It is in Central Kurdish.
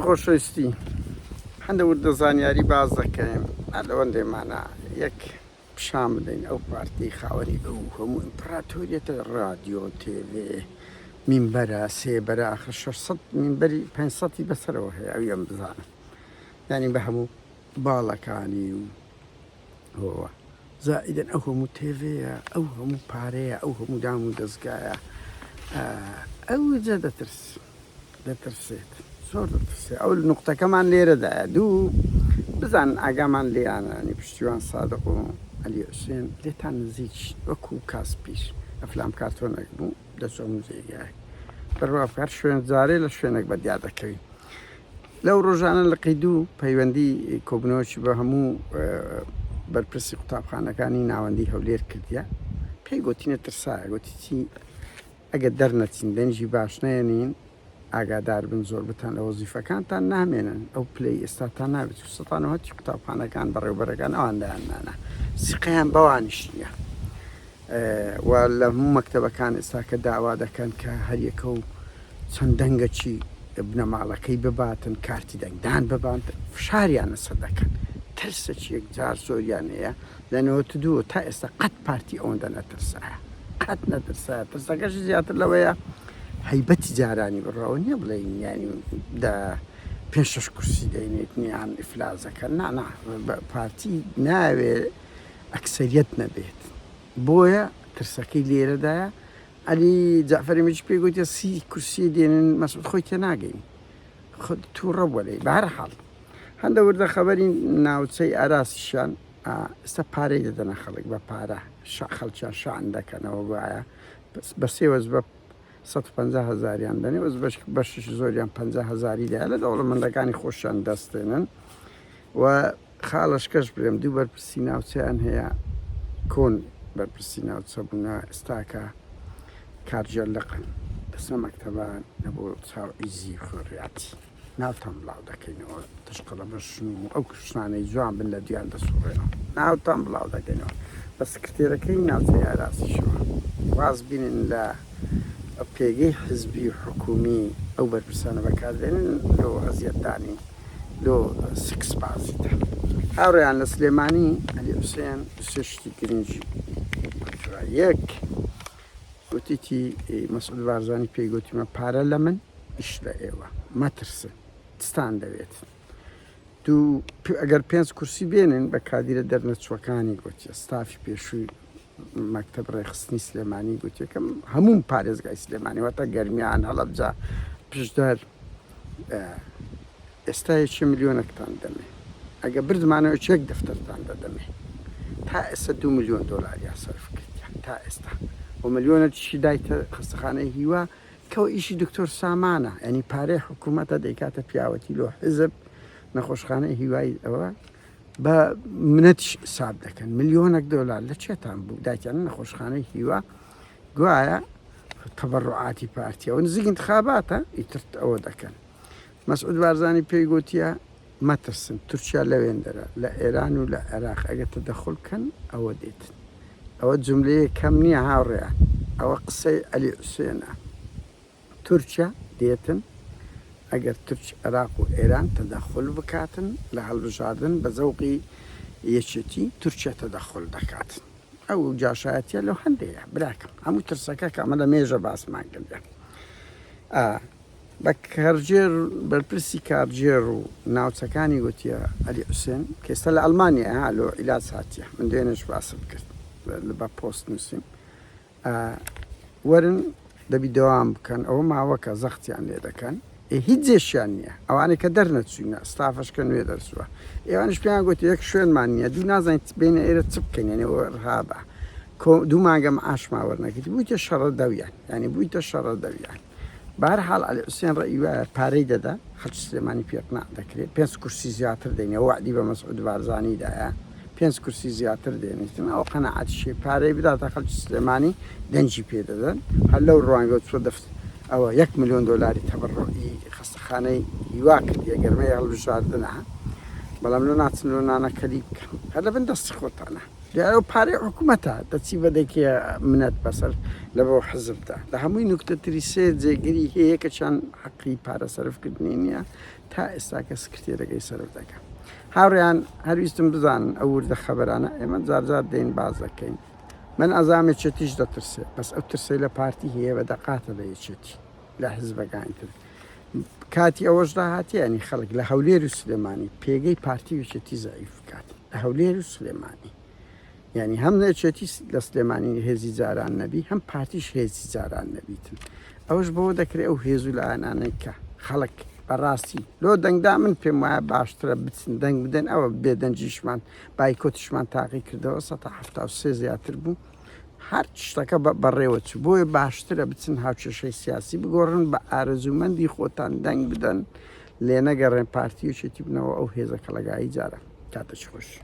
خۆشەویستی هەندە وردە زانیاری باس دەکەین هەر لەوەندەی مانا یەک پیشان بدەین ئەو پارتی خاوەنی ئەو هەموو ئیمپراتۆریەتە رادیۆ تێوێ مینبەرە سێبەرە ئاخر 600 مینبەری 500ی بەسەرەوە هەیە ئەو یەم بزانم یعنی بە هەموو باڵەکانی و هۆوە زائیدن ئەو هەموو تێوەیە ئەو هەموو پارەیە ئەو هەموو دام و دەستگایە ئەو جە دەترس دەترسێت زۆر دەترسێ ئەو نقطەکەمان لێرەدایە دوو بزان ئاگامان لێیانانی پشتیوان سادق و علی حوسێن لێتان نزیک وەکو کاس پیش ئەفلام کارتۆنێک بوو دەچۆم جێگای دەڕوافکار شوێن جارێ لە شوێنێک بە دیار دەکەوی لەو ڕۆژانە لە قیدو پەیوەندی کۆبنەوەکی بە هەموو بەرپرسی قوتابخانەکانی ناوەندی هەولێر کردە پێی گوتینە ترسایە گوتی چی ئەگەر دەرنەچن دەنگی باش نەیەنین ئاگادار بن زۆر بتان لە وەزیفەکانتان نامێنن ئەو پلەی ئێستاتان نابێت و سەتا نەوەد هەرچی قوتابخانەکان بەڕێوەبەرەکان ئەوان دایاننانا سیقەیان بەوانیش نییە و لە هەموو مەکتەبەکان ئێستاکە داوا دەکەن کە هەریەکە و چەند دەنگەکی بنەماڵەکەی بباتن کارتی دەنگدان ببان فشاریانە سەر دەکەن ترسەکی یەکجار زۆریان هەیە لە نەوەت و دوو تا ئێستا قەت پارتی ئەوەندە نەترسایە قەت نەترسایە ترسەکەشی زیاتر لەوەیە هەیبەتی جارانی بڕەوە نییە بڵێین یانی دە پێ شش کورسی دەینێت نیان ئیفلازەکە نانا پارتی ناوێ ئەکسریت نەبێت بۆیە ترسەکەی لێرەدایە ئەلی جعفری مچ پێ گوتە سی کورسی دێنن مەسود خۆی تێ ناگەین خود تووڕە بۆ لەی بارە حاڵ هەندە وردە خەبەری ناوچەی ئاراسیشان ئێستا پارەی دەدەنە خەڵک بە پارە شا خەڵکیان شان دەکەنەوە گوایە بە سێ وەزبە سەد و پەنجا هەزاریان دەنێ وەز بەش بەشیش زۆریان پەنجا هەزاری دایە لە دەوڵەمەندەکانی خۆشیان دەستێنن و خاڵشکەش برێم دوو بەرپرسی ناوچەیان هەیە کۆن بەرپرسی ناوچە بوونا ئێستاکە کارجێلقن دەسە مەکتەبان نەبوو چاو ئیزی خۆڕیاتی ناوتان بڵاو دەکەینەوە تشقەڵە بەشن و ئەو کشانەی جوان بن لە دویان دەسوڕێنەوە ناوتان بڵاو دەکەینەوە بە سکرتێرەکەی ناوچەی ئاراسیشەوە واز بینن لە پێگەی حزبی و حکومی ئەو بەرپرسانە بەکاردێنن لۆ ئەزیەتدانی لۆ سکس بازیدا هاوڕیان لە سلێمانی ئەلی حوسێن سێ شتی گرنگی یەک گوتیتی مەسعود بارزانی پێی گوتیمە پارە لە من ئیش لە ئێوە مەترسن چتان دەوێت دوو ئەگەر پێنج کورسی بێنن بە کادیرە دەرنەچووەکانی گوتیە ستافی پێشووی مەکتب ڕێخستنی سلێمانی گوتیەکەم هەموو پارێزگای سلێمانی واتە گەرمیان هەڵەبجا پشدەر ئێستا یەکێ ملیۆنەکتان دەمێ ئەگە بردمانەوە چێک دەفتەرتان دەدەمێ تا ئێستا دوو ملیۆن دۆلاریان سەرف کردیە تا ئێستا و ملیۆنە تیشی دایتە خەستەخانەی هیوا کەەوە ئیشی دکتۆر سامانە ئەنی پارەی حکوومەتە دەیکاتە پیاوەتی لۆ حزب نەخۆشخانەی هیوای ئەوە بە منەتیش ساب دەکەن ملیۆنەک دۆلار لە چێتان بوو دایتیان نەخۆشخانەی هیوا گوایە تەبڕعاتی پارتیەوە نزیک انتخاباتە ئیترت ئەوە دەکەن مەسعود بارزانی پێی گۆتیە مەترسن تورکیا لەوێندەرە لە ئێران و لە عێراق ئەگەر تەدەخول کەن ئەوە دێتن ئەوە جوملەیەک کەم نیە هاوڕێیان ئەوە قسەی عەلی حوسێنە تورکیا دێتن ئەگەر تورک عێراق و ئێران تەدەخول بکاتن لە هەڵبژاردن بە زەوقی یەکێتی تورکیا تەدەخول دەکات ئەو جاشایەتە لەو هەندەیە براکەم هەموو ترسەکە کە ئەمە لە مێژە باسمان کردە بە کارگێڕ و بەرپرسی کارگێڕ و ناوچەکانی گوتیە، عەلی حوسێن، کە ئێستا لە ئەڵمانیایە لۆ عیلاج هاتیە، من دوێنێش باسم کرد بە پۆست نووسیم، ئا وەرن دەبی دەوام بکەن، ئەوە ماوەکە زەختیان لێ دەکەن، ئێ هیچ جێشیان نییە، ئەوانەی کە دەرنەچووینە، ستافەش کە نوێ دەرچووە، ئێوانەش پێیان گوتیە یەک شوێنمان نییە، دوو نازانین بێینە ئێرە چ بکەین، یانی ئەوە رهابە، کۆ دوو مانگە معاشمان وەرنەگرت، بوویتە شەڕەدەویان، یانی بوویتە شەڕەدەویان. بەهەرحاڵ عەلی حوسێن ڕەئی وایە پارەی دەدا خەڵکی سلێمانی پێ قناع دەکرێ پێنج کورسی زیاتر دەینێ وەعدی بە مەسعود بارزانی دایە پێنج کورسی زیاتر دێنیتن ئەو قەناعەتیشی پارەی بداتە خەڵکی سلێمانی دەنجی پێ دەدەن هەر لەو ڕوانگەوە چۆ دەفت ئەوە یەک ملیۆن دۆلاری تەبڕڕوعی خەستەخانەی هیوا کردیە گەرمەی هەڵبژاردنە بەڵام لۆ ناچن لۆ نانەکەری بکەن هەر لە بن دەستی خۆتانە دەیاو پارەی حکومەتە دەچی بە دەکێ منەت بەسەر لە بۆ حزبدا لە هەمووی نوکتە تری سێ جێگری هەیە کە چەند حەقی پارە سەرفکردنی نییە تا ئێستاکە سکرتێرەکەی سەرف دەکەم هاوڕیان هەرویستم بزانن ئەو وردە خەبەرانە ئێمە جارجار دێن باز دەکەین من ئەزامێ چێتیش دەترسێ بەس ئەو ترسەی لە پارتی هەیە بە دەقاتە لە یەکێتی لە حزبەکان کرد کاتی ئەوەش داهاتیانی خەڵک لە هەولێر و سلێمانی پێگەی پارتی وچێتی زعیف بکات لە هەولێر و سلێمانی ینی هەم نەچێتی لە سلێمانی هێزی جاران نەبی هەم پارتیش هێزی جاران نەبیتن ئەوش بۆ دەکرێت ئەو هێز و لایەنانەی کە خەڵک بەڕاستی لۆ دەنگدا من پێم وایە باشترە بچن دەنگ بدەن ئەوە بێدەنجیشمان بایکۆتیشمان تاقی کردەوە 1970 زیاتر بوو هەر شتەکە بەڕێوە چوو بۆیە باشترە بچن هاوکێشەی سیاسی بگۆڕن بە ئارەزوومەندی خۆتان دەنگ بدەن لێ نەگەڕێن پارتیەکێتی بنەوە ئەو هێزە کەڵەگایی جارە کاتەش خۆش.